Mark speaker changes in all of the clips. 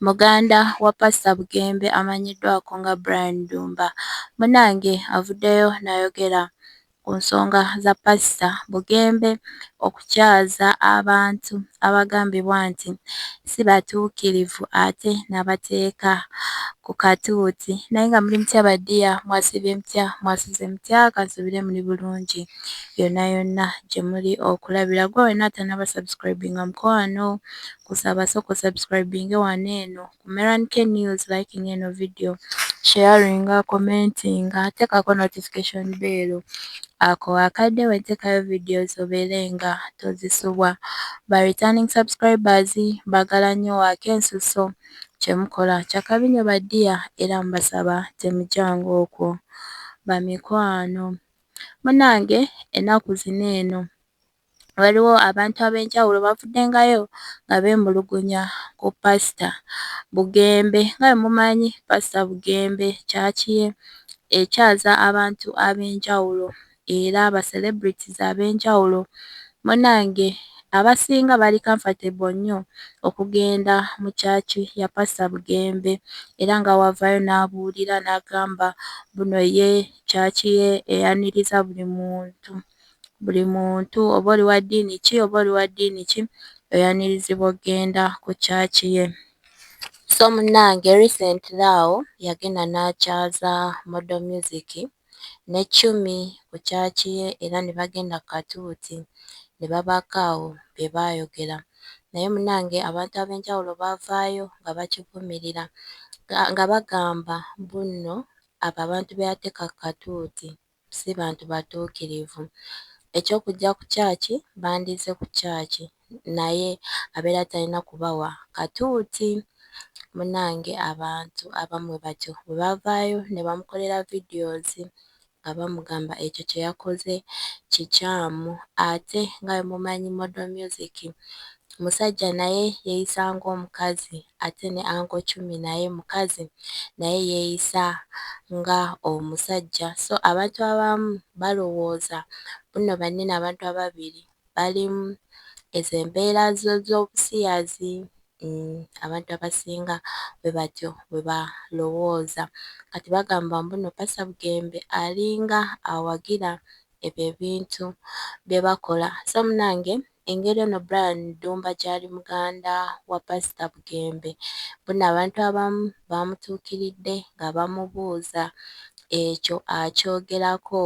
Speaker 1: Muganda wa Pasita Bugembe amanyiddwako nga Brian Ddumba munange avuddeyo nayogera ku nsonga za Pasita Bugembe okukyaza abantu abagambibwa nti si batuukirivu ate nabateeka ku katuuti naye nga muli mutya badiya mwasibye mutya mwasuze mutya kansubire muli bulungi yonna yonna gye muli okulabira gwe wena atanaba subscribinga mukwano Nkusaba soka osubscribinge wano eno ku Meran K News, likinga eno video, sharinga, commentinga, tekako notification bell. Ako akadde wentekayo videos obeere nga tozisubwa. Ba returning subscribers bagala nyo waaka ensusso. Kyemukola kyakabi nyo ba dear era mbasaba temujanga okwo bamikwano. Munange enaku zino eno. waliwo abantu ab'enjawulo bavuddengayo nga beemulugunya ku Paasita Bugembe. Nga bwe mumanyi Paasita Bugembe kyaki ye ekyaza abantu ab'enjawulo era ba celebrities ab'enjawulo. Munnange abasinga bali comfortable nnyo okugenda mu kyaki ya Paasita Bugembe era nga w'avaayo n'abuulira n'agamba mbu no ye kyaki ye eyaniriza buli muntu. buli muntu oba oli wa ddiini ki oba oli wa ddiini ki oyanirizibwa okugenda ku kyaki ye so munnange recently awo yagenda n'akyaza modo music ne chumi ku kyaki ye era ne bagenda ku katuuti ne babaako awo bye baayogera naye munnange abantu ab'enjawulo baavaayo nga bakivumirira nga bagamba mbu nno abo abantu be yateeka ku katuuti. si bantu batuukirivu. Eky'okujja ku kyaki, bandizze ku kyaki, naye abeera talina kubawa katuuti. Munnange abantu abamu bwe batyo bwe bavaayo ne bamukolera videos nga bamugamba ekyo kye yakoze kikyamu ate nga bwe mumanyi Model Music musajja naye yeyisa ngomukazi ate ne anko chumi naye mukazi naye yeyisa nga omusajja so abantu abamu balowooza bunno banne nabantu ababiri balimu ezo embeera zobusiyazi abantu abasinga bwebatyo bwebalowooza kati bagamba mbuno pastor bugembe alinga awagira ebyo ebintu byebakola so munange engeri ono Brian Ddumba gyali muganda wa Pasita Bugembe mbona abantu abamu baamutuukiridde nga bamubuuza ekyo akyogerako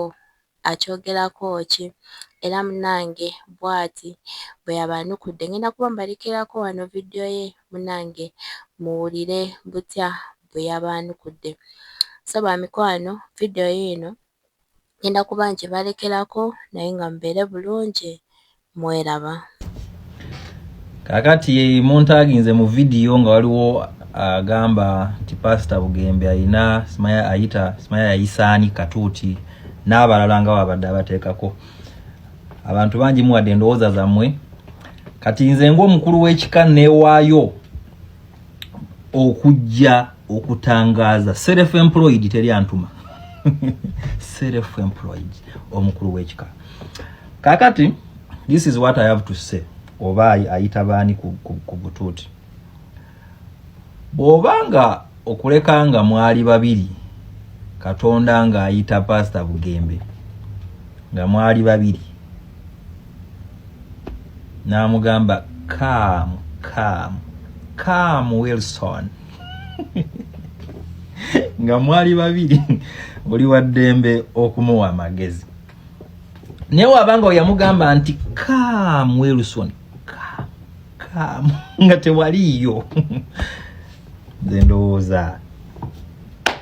Speaker 1: akyogerako ki era munange bwati bwe yabaanukudde ngenda kuba mbalekeraako wano vidiyo ye munange muwulire butya bwe yabaanukudde so bamikwano vidiyo yiino. Ngenda kuba nkibalekerako naye nga mubeere bulungi mweraba.
Speaker 2: Kakati muntaginze mu video nga waliwo agamba nti Pastor Bugembe ayina simaya ayita simaya yayisaani katuuti n'abalala nga wabadde abateekako abantu bangi muwadde endowooza zammwe kati nze ng'omukulu w'ekika neewaayo okujja okutangaza self employed teri antuma self employed omukulu wekika kakati this is what i have to say oba ayita baani ku butuuti bwoba nga okuleka nga mwali babiri katonda nga ayita pasita bugembe nga mwali babiri n'amugamba kaamu kaamu kaamu wilson nga mwali babiri oli wa ddembe okumuwa amagezi naye waba nga oyamugamba nti kaamu wilson kaamu nga tewaliiyo nze ndowooza